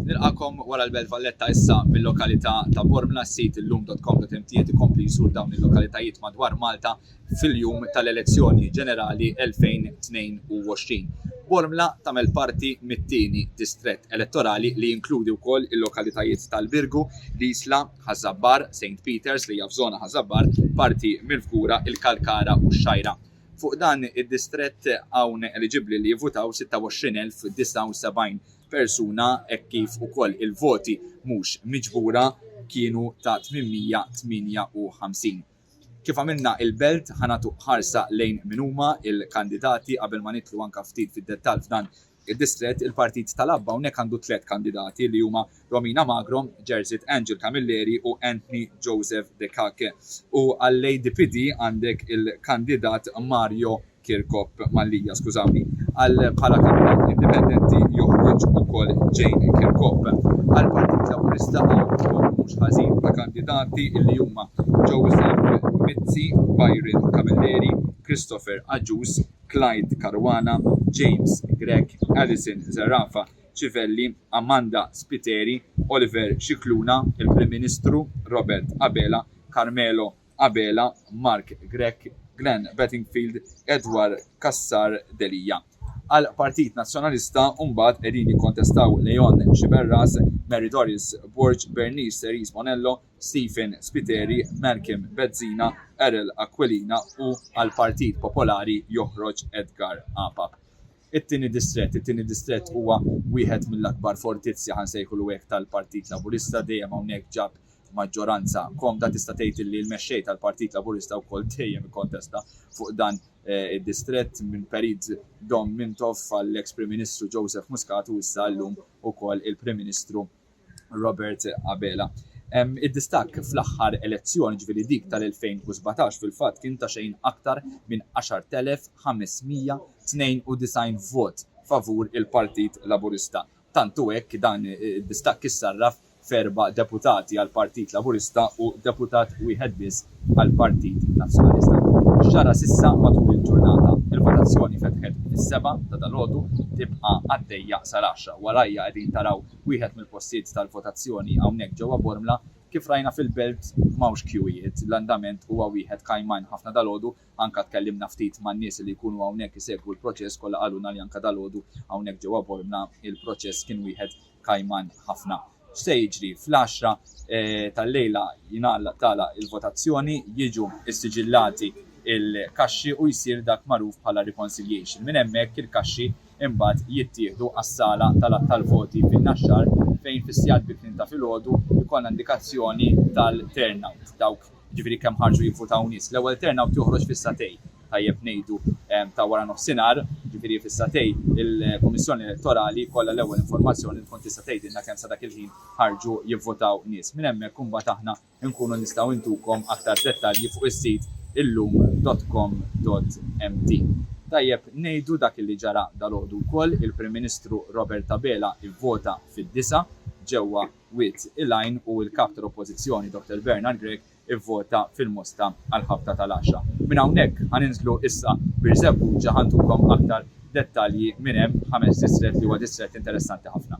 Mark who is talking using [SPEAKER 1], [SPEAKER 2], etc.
[SPEAKER 1] Nilqagħkom wara l-Belt Valletta issa mil-lokalità ta' Bormla, s-sit illum.com.mt qed ikompli jżur dawn il-lokalitajiet madwar Malta fil-jum tal-elezzjoni ġenerali 2022. Bormla tagħmel parti mit-tieni distrett elettorali li jinkludi wkoll il-lokalitajiet tal-Birgu, l-Isla, Ħaż-Żabbar, Saint Peters, li hija f'żona Ħaż-Żabbar, parti mill-Fgura, il-Kalkara u x-Xgħajra. Fuq dan id-distrett hawn eliġibbli li jivvutaw 26,079 persuna hekk kif ukoll il-voti mhux miġbura kienu ta' 858. Kif għamilna il-Belt ħa nagħtu ħarsa lejn min huma l-kandidati qabel ma nidħlu anke ftit fid-dettall f'dan Id-distrett, il-Partit tal-Abba hawnhekk għandu tliet kandidati li huma Romina Magro, Jerseyt Angel Camilleri u Anthony Joseph De Cake u għall-ADPD għandek il-kandidat Mario Kirkop, Mallia, skużawni. Għal bħala kandidat indipendenti joħroġ ukoll Jane Kirkop. Għall-Partit Laburista hawn ukoll mhux ħażin ta' kandidati li huma Joseph Mizzi, Byron Camilleri, Christopher Agius, Clyde Caruana, James Grech, Alison Zerafa, Civelli, Amanda Spiteri, Oliver Scicluna, il-Prim Ministru, Robert Abela, Carmelo Abela, Mark Grech, Glenn Bettingfield, Edward Cassar Delia. Għall-Partit Nazzjonalista u mbagħad qegħdin jikkontestaw Leon Sciberras, Mary Doris Borg, Bernice Rees Bonello, Stephen Spiteri, Malcolm Bezzina, Errol Aquilina u għall-Partit Popolari joħroġ Edgar Apap. It-tieni distrett It-tieni distrett huwa wieħed mill-akbar fortizzi, ħa nsejħulu hekk, tal-Partit Laburista, dejjem hawnhekk ġab maġġoranza komda. Tista' tgħid li l-Mexxej tal-Partit Laburista wkoll dejjem ikkontesta fuq dan id-distrett minn perit Dom Mintoff għall-eks Prim Ministru Joseph Muscat u issa llum ukoll il-Prim Ministru Robert Abela. Id-distakk fl-aħħar elezzjoni, ġifieri dik tal-2017, fil-fatt kien ta' xejn aktar minn 10,592 vot favur il-Partit Laburista. Tant hu hekk, dan id-distakk issarraf f'erba' deputati għall-Partit Laburista u deputat wieħed biss għall-Partit Nazzjonalista. X'ġara s'issa matul il-ġurnata? Il-votazzjoni fetħet fis-sebgħa ta' dalgħodu, tibqa' għaddejja sal-għaxra. Warajja qegħdin taraw wieħed mill-postijiet tal-votazzjoni hawnhekk ġewwa Bormla. Kif rajna fil-belt m'hawnx kjuwijiet, l-andament huwa wieħed kajman ħafna dalgħodu, anke tkellimna ftit man-nies li jkunu hawnhekk isegwu l-proċess kollha qalulna li anke dalgħodu hawnhekk ġewwa Bormla l-proċess kien wieħed kajman ħafna. X'se jiġri? Fl-għaxra tal-lejla jingħalaq tagħlaq il-votazzjoni, jiġu ssiġillati l-kaxxi u jsir dak magħruf bħala reconciliation. Minn hemmhekk il-kaxxi imbagħad jittieħdu għas-sala tal-għadd tal-voti fin-Naxxar fejn fis-sigħat bikrien ta' filgħodu jkollna indikazzjoni tal-turnout, dawk jiġifieri kemm ħarġu jivvutaw nies. L-ewwel turnout joħroġ fis-sagħtej, tajjeb ngħidu, ta' wara nofsinhar, jiġifieri fis-sagħtej il-Kummissjoni Elettorali jkollha l-ewwel informazzjoni li tkun tista' tgħidilna kemm sa dak il-ħin ħarġu jivvutaw nies. Minn hemmhekk imbagħad aħna inkunu nistgħu intukom aktar dettalji fuq is-sit illum dot com dot mt. Tajjeb ngħidu dak li ġara dalgħodu wkoll, il-Prim Ministru Robert Abela vvota fid-disgħa ġewwa Wied il-Għajn u l-Kap tal-Oppożizzjoni Dr Bernard Grech ivvota fil-Mosta għall-ħabta tal-għaxra. Minn hawnhekk ħa ninżlu issa Birżebbuġa ħa ntukom aktar dettalji minn hemm, Ħameġ Distrett li huwa distrett interessanti ħafna.